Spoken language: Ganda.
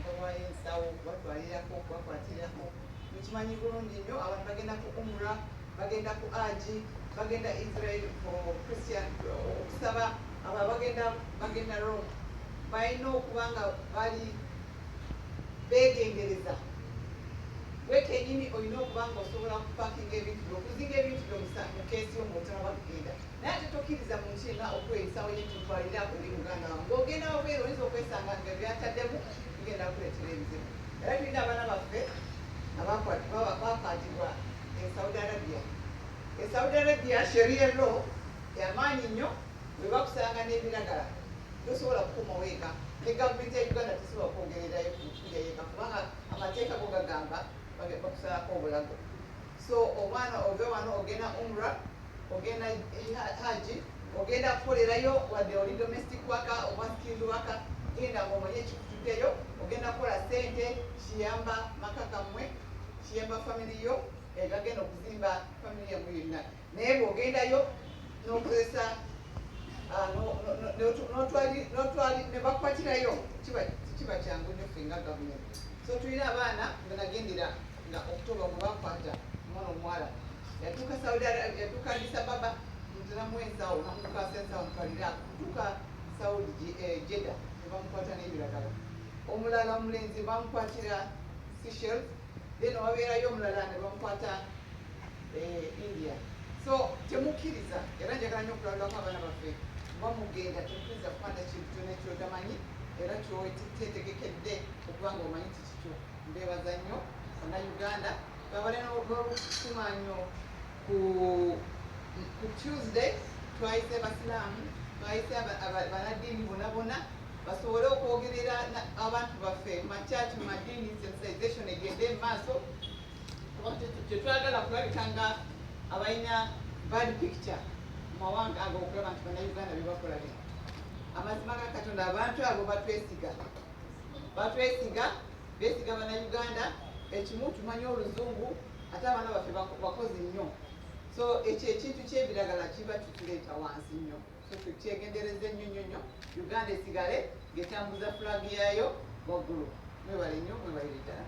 bawayo ensawo okubatwalirako okubakwatirako mukimanyi bulungi nnyo abantu bagenda ku umura bagenda ku aji bagenda israel christian okusaba aba bagenda bagenda rome balina okuba nga bali begendereza gwe kenyini olina okuba nga osobola kupakinga ebintu byo okuzinga ebintu byo mukeesi yo ngaotalaba kugenda Naye ate tokkiriza muntu yenna okweyisa oyo nti twalina eri muganda wange. Ng'ogenda wabweru oyinza okwesanga nga byataddemu bigenda kukuleetera ebizibu. Era tulina abaana baffe abakwatibwa e Saudi Arabia. E Saudi Arabia sheria law yamaanyi nnyo bwe bakusanga n'ebiragala tosobola kukuma weeka ne gavumenti ya Uganda tesobola kwogererayo kuja yeeka kubanga amateeka go gagamba bakusalako obulago so omwana ove wano ogenda umra ogenda haji ogenda kukolerayo wadde oli domestic waka oba skilled waka genda ngaomanye ekikututeyo ogenda kukola sente kiyamba maka kamwe kiyamba family yo egagenda okuzimba family yamwe yonna naye bwogendayo nokozesa ah, nebakwatirayo kiba kyangu nyo fenga gavumenti so tulina abaana benagendera nga October gwe bakwata omwana omuwala yatuuka Saudi Arabia yatuuka Addis Ababa nziramu ensawo namukwasa ensawo mutwalira kutuuka Saudi eh, Jeddah ne bamukwata n'ebiragala omulala omulenzi bamukwatira Seychelles then wabeerayo omulala ne bamukwata eh, India so temukkiriza era njagala nyo okulabulako abaana baffe oba mugenda temukkiriza kukwata kintu kyona kyotamanyi era kyotetegekedde okubanga omanyi Mbebaza nnyo bana Uganda babale n'obukuuma nnyo ku ku Tuesday twayise Basiraamu twayise banaddiini bona bona basobole okwogerera abantu baffe makyaki madiini sensitization egende mu maaso tetwagala kulabika nga abalina bad picture mu mawanga ago okulaba nti banauganda bebakola bino amazima ga katonda abantu abo batwesiga batwesiga besiga banauganda ekimu tumanyi oluzungu ate abaana baffe bakozi nnyo so ekyo ekintu kyebiragala kiba tukireeta wansi nnyo so tukyegendereze nnyo nnyo nnyo uganda esigale ngetambuza flag yayo waggulu mwebale nnyo mwebalire ddala